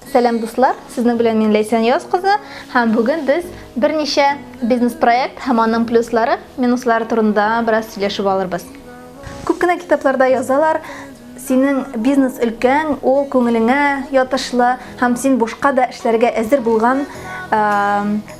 Сәлам дуслар, сезнең белән мин Ләйсән Яз кызы һәм бүген без берничә бизнес-проект һәм аның плюслары, минуслары турында бераз сөйләшеп алырбыз. Күп кенә китапларда язалар, синең бизнес өлкәң ул күңелеңә ятышлы һәм син бушка да эшләргә әзер булган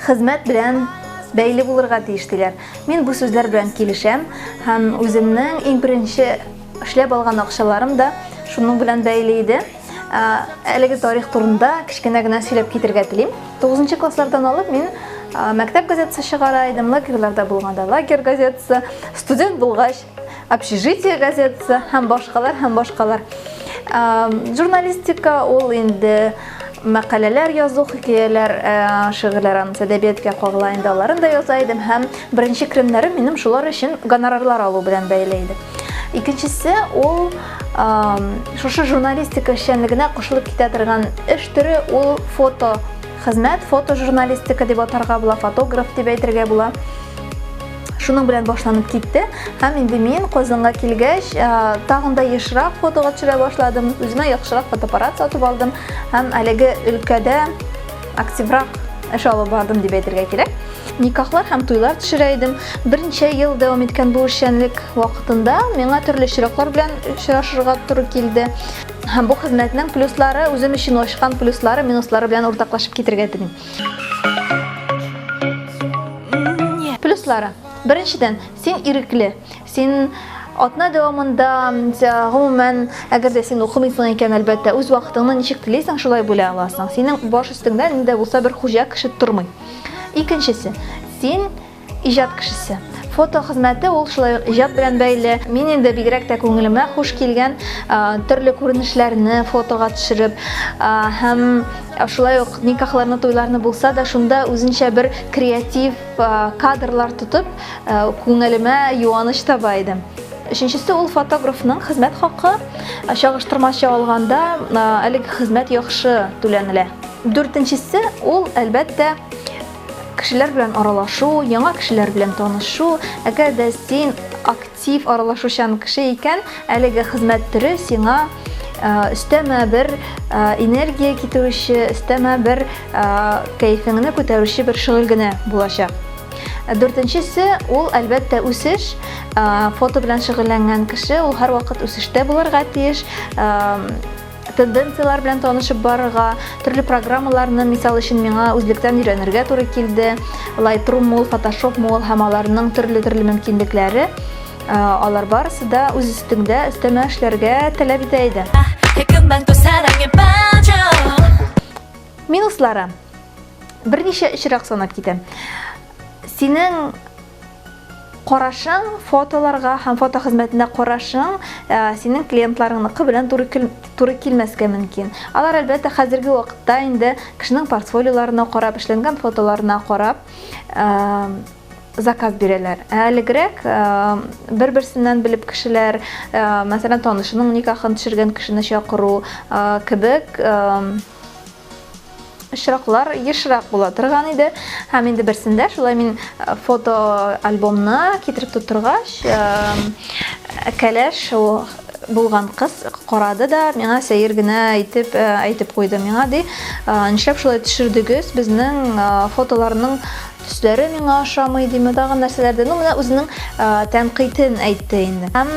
хезмәт белән бәйле булырга тиеш диләр. Мин бу сүзләр белән килешәм һәм үземнең иң беренче Эшләп алган акчаларым да шуның белән бәйле иде. Әлеге тарих турында кечкенә генә сөйләп китергә телим. 9 класслардан алып мин мәктәп газетасы чыгара идем, лагерьларда булганда лагерь газетасы, студент булгач общежитие газетасы һәм башкалар һәм башкалар. Журналистика ул инде Мәкаләләр язу, хикәяләр, шигырьләр анысы әдәбияткә кагыла инде, аларын да яза идем һәм беренче керемнәрем минем шулар өчен гонорарлар алу белән бәйле иде. Икенчесе ул шушы журналистика эшчәнлегенә кушылып китә торган эш төре ул фото хезмәт, фотожурналистика дип атарга була, фотограф дип әйтергә була. шуның белән башланып китте һәм инде мин Казанга килгәч тагын да ешрак фотога төшерә башладым үземә яхшырак фотоаппарат сатып алдым һәм әлеге өлкәдә активрак эш алып бардым дип әйтергә кирәк никахлар һәм туйлар төшерә идем берничә ел дәвам иткән бу эшчәнлек вакытында миңа төрле очраклар белән очрашырга туры килде һәм бу хезмәтнең плюслары үзем өчен ачкан плюслары минуслары белән уртаклашып китергә телим Плюслары. Беренчедән, син ирекле. Син атна дәвамында гомумән әгәр дә син укымыйсың икән әлбәттә үз вакытыңны ничек телисең шулай бүлә аласың синең баш өстеңдә нидә булса бер хуҗа кеше тормый икенчесе син Иҗат кешесе. Фото хезмәте ул шулай ук иҗат белән бәйле. Мин инде бигрәк тә күңелемә хуш килгән төрле күренешләрне фотога төшереп һәм шулай ук никахларны, туйларны булса да, шунда үзенчә бер креатив кадрлар тотып, күңелемә юаныч таба идем. Өченчесе ул фотографның хезмәт хакы. Чагыштырмача алганда, әлеге хезмәт яхшы түләнелә. Дүртенчесе ул, әлбәттә, Кешеләр белән аралашу, яңа кешеләр белән танышу, әгәр дә син актив аралашучан кеше икән, әлеге хезмәт төре сиңа өстәмә бер энергия китерүче, өстәмә бер кәефеңне күтәрүче бер шөгыль генә булачак. Дүртенчесе ул әлбәттә үсеш. Фото белән шөгыльләнгән кеше ул һәрвакыт үсештә булырга тиеш. тенденцияләр белән танышып барырга, төрле программаларны, мисал өчен, миңа үзлектән өйрәнергә туры килде. Lightroom мул, Photoshop мул һәм аларның төрле-төрле мөмкинлекләре. Э, алар барысы да үз өстеңдә өстәмә эшләргә таләп итә иде. Минуслары берничә очрак санап китәм. Синең Карашың фотоларга һәм фото хезмәтенә карашың э, синең клиентларыңныкы белән туры, туры килмәскә мөмкин. Алар әлбәттә хәзерге вакытта инде кешенең портфолиоларына карап, эшләнгән фотоларына карап э, заказ бирәләр. Ә әлегрәк э, бер-берсеннән белеп кешеләр, мәсәлән, танышының никахын төшергән кешене чакыру кебек очраклар ешрак була торган иде һәм инде берсендә шулай мин э, фото альбомны китереп тутыргач э, кәләш булган кыз карады да миңа сәер генә итеп э, әйтеп куйды миңа ди нишләп шулай төшердегез безнең фотоларның төсләре миңа ошамый димә тагын нәрсәләрдә ну менә үзенең тәнкыйтен әйтте инде һәм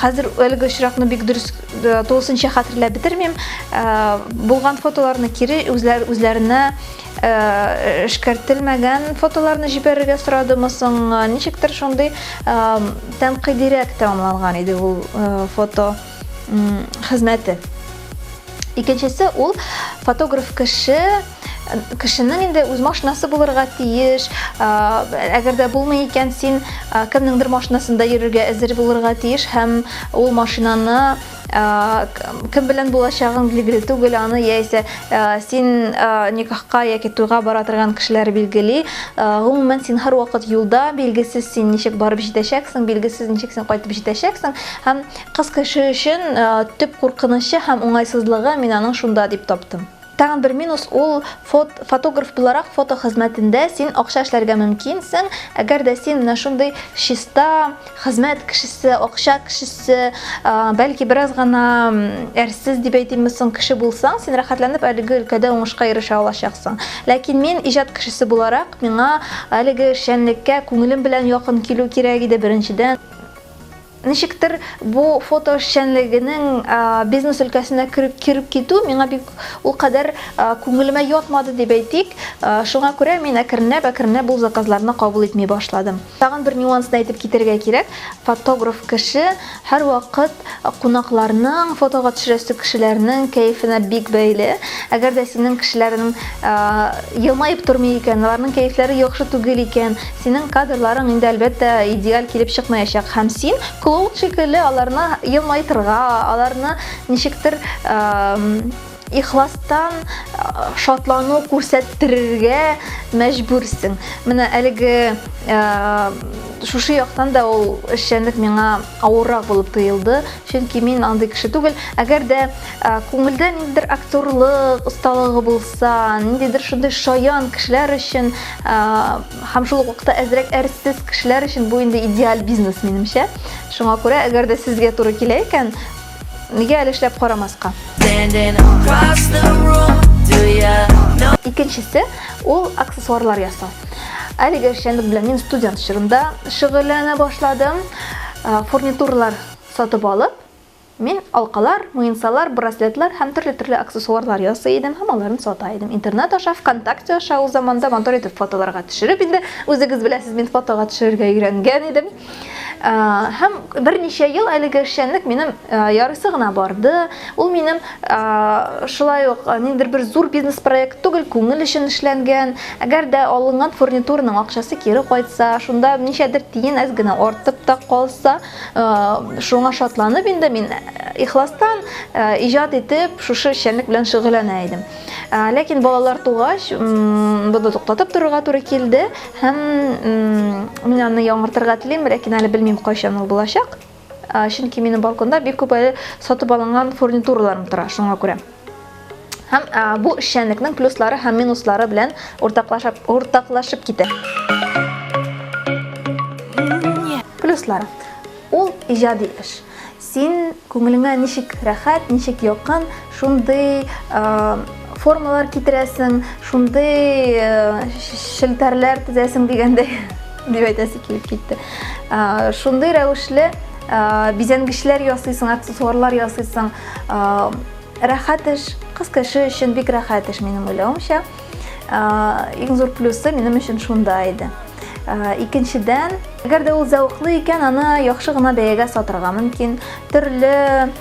Хәзер әлеге очракны бик дөрес э, тулысынча хәтерләп бетермим. Э, булган фотоларны кире үзләр үзләренә э, эшкәртелмәгән фотоларны җибәрергә сорадымы соң? Ничектер шундый тәнкыйдирәк тәмамланган иде ул фото хезмәте. Икенчесе ул фотограф кеше кешенең инде үз машинасы булырга тиеш әгәр дә булмый икән син кемнеңдер машинасында йөрергә әзер булырга тиеш һәм ул машинаны кем белән булачагың билгеле түгел аны яисә син никахка яки туйга бара торган кешеләр билгели гомумән син һәрвакыт юлда билгесез син ничек барып җитәчәксең билгесез ничек син кайтып җитәчәксең һәм кыз кеше өчен төп куркынычы һәм уңайсызлыгы мин аның шунда дип таптым Тагын бер минус ул, фот, фотограф буларак фото хезмәтендә син акча эшләргә мөмкинсең, әгәр дә син менә шундый чиста хезмәт кешесе, акча кешесе, бәлки бераз гына әрсез дип әйтимме соң, кеше булсаң, син рәхәтләнеп әлеге өлкәдә уңышка ирешә алачаксың. Ләкин мин, иҗат кешесе буларак, миңа әлеге эшчәнлеккә күңелем белән якын килү кирәк иде, беренчедән. Ничектер, бу фото эшчәнлегенең бизнес өлкәсенә кереп китү миңа бик ул кадәр күңелемә ятмады дип әйтик. Шуңа күрә мин әкренләп-әкренләп ул заказларны кабул итми башладым. Тагын бер нюансны әйтеп китәргә кирәк, фотограф кеше һәрвакыт кунакларның, фотога төшерәсе кешеләрнең кәефенә бик бәйле. Әгәр дә синең кешеләрең елмаеп тормый икән, аларның кәефләре яхшы түгел икән, Синең кадрларың инде, әлбәттә, идеаль килеп чыкмаячак, һәм син Клоуд шикелле аларны елмайтырга, аларны ничектер ихластан шатлану күрсәттерергә мәҗбүрсең. Менә әлеге шушы яктан да ул эшчәнлек миңа авыррак булып тоелды, чөнки мин андый кеше түгел. Әгәр дә Ә, күңелдә ниндидер актерлык осталыгы булса, ниндидер шундый шаян кешеләр өчен ә, һәм шул ук вакытта әзрәк әрсез кешеләр өчен бу инде идеаль бизнес, минемчә. Шуңа күрә, әгәр дә сезгә туры килә икән, нигә әле эшләп карамаска? Standing across the room, do ya know? Икенчесе, ул аксессуарлар ясау. Әлеге эшчәнлек белән мин студент чорымда шөгыльләнә башладым. Ә, Фурнитуралар сатып алып, Мин алкалар, муенсалар, браслетлар һәм төрле-төрле аксессуарлар ясый идем һәм аларны сата идем. Интернет аша, ВКонтакте аша ул заманда матур итеп фотоларга төшереп, инде үзегез беләсез, мин фотога төшерергә өйрәнгән идем. Һәм берничә ел әлеге эшчәнлек минем ярыйсы гына барды. Ул минем шулай ук ниндидер бер зур бизнес проект түгел, күңел өчен эшләнгән. Әгәр дә алынган фурнитураның акчасы кире кайтса, шунда ничәдер тиен әз генә артып та калса, Шуңа шатланып инде мин ихластан иҗат итеп шушы эшчәнлек белән шөгыльләнә идем. Ләкин балалар тугач, буны туктатып торырга туры килде һәм мин аны яңартырга телим, ләкин әле белмим кайчан ул булачак. Чөнки минем балконда бик күп әле сатып алынган фурнитураларым тора, шуңа күрә. Һәм ә, бу эшчәнлекнең плюслары һәм минуслары белән уртаклашып, уртаклашып китә. Плюслары. Ул иҗади эш. Син күңелеңә ничек рәхәт, ничек якын, шундый формалар китерәсең, шундый э, челтәрләр төзәсең дигәндәй дип әйтәсе килеп китте. Шундый рәвешле Э, бизәнгечләр ясыйсың, аксессуарлар ясыйсың. Э, рәхәт эш, кыз кеше өчен бик рәхәт эш минем уйлавымча. Э, иң зур плюсы минем өчен шунда иде. Икенчедән, әгәр дә ул зәвыклы икән, аны яхшы гына бәягә сатырга мөмкин. Төрле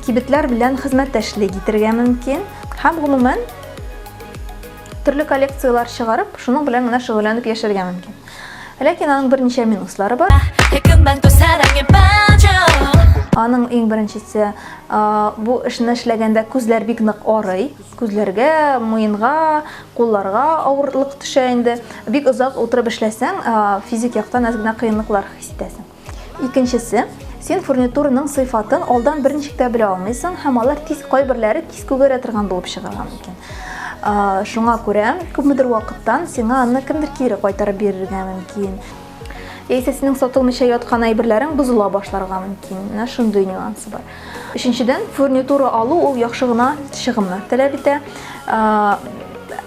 кибетләр белән хезмәттәшлек итәргә мөмкин. Һәм гомумән төрле коллекцияләр чыгарып, шуның белән генә шөгыльләнеп яшәргә мөмкин. Ләкин аның берничә минуслары бар. Аның иң беренчесе, бу эшне эшләгәндә күзләр бик нык арый. Күзләргә, муенга, кулларга авырлык төшә инде. Бик озак утырып эшләсәң, физик яктан әз генә кыенлыклар хис итәсең. Икенчесе, син фурнитурының сыйфатын алдан берничек тә белә алмыйсың һәм алар тиз кайберләре тиз күгәрә торган булып чыгарга мөмкин. Шуңа күрә күпмедер вакыттан сиңа аны кемдер кире кайтарып бирергә мөмкин. Яисә синең сатылмыйча яткан әйберләрең бозыла башларга мөмкин. Менә шундый нюансы бар. Өченчедән, фурнитура алу ул яхшы гына чыгымнар таләп итә.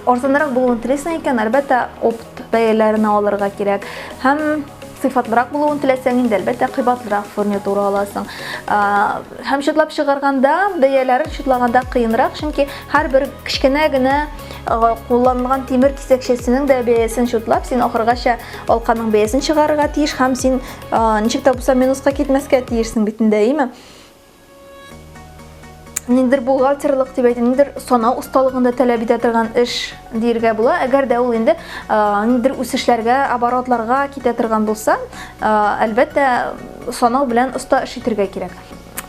Арзанрак булуын телисең икән, әлбәттә, опт бәяләренә алырга кирәк һәм сыйфатлырак булуын теләсәң инде әлбәттә кыйбатлырак фурнитура аласың һәм чытлап чыгарганда бәяләрен чытлаганда кыенрак чөнки һәрбер кечкенә генә кулланылган тимер кисәкчәсенең дә бәясен чытлап син ахыргача алканың бәясен чыгарырга тиеш һәм син ничек тә булса минуска китмәскә тиешсең бит инде әйеме ниндидер бухгалтерлык дип әйтим, ниндидер санау осталыгын да таләп итә торган эш диергә була. Әгәр дә ул инде ниндидер үсешләргә, оборотларга китә торган булса, әлбәттә, санау белән оста эш итергә кирәк.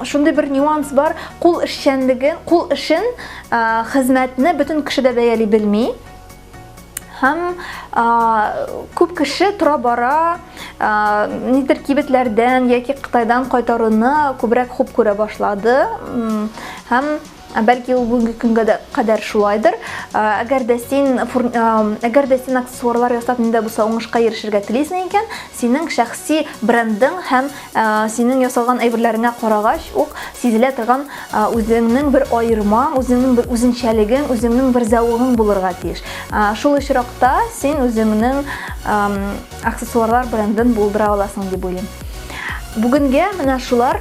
Шундый бер нюанс бар, кул эшчәнлеге, кул эшен, хезмәтне бөтен кеше дә бәяли белми. һәм күп кеше тора бара нидер кибетләрдән яки Кытайдан кайтаруны күбрәк хуп күрә башлады һәм бәлки ул бүгенге көнгә дә кадәр шулайдыр әгәр дә син әгәр дә син аксессуарлар ясап миндә булса уңышка ирешергә телисең икән Синең шәхси брендың һәм синең ясалган әйберләреңә карагач ук сизелә торган үзеңнең бер аермаң, үзеңнең бер үзенчәлегең, үзеңнең бер зәвыгың булырга тиеш. Шул очракта син үзеңнең аксессуарлар брендын булдыра аласың дип уйлыйм. Бүгенгә менә шулар.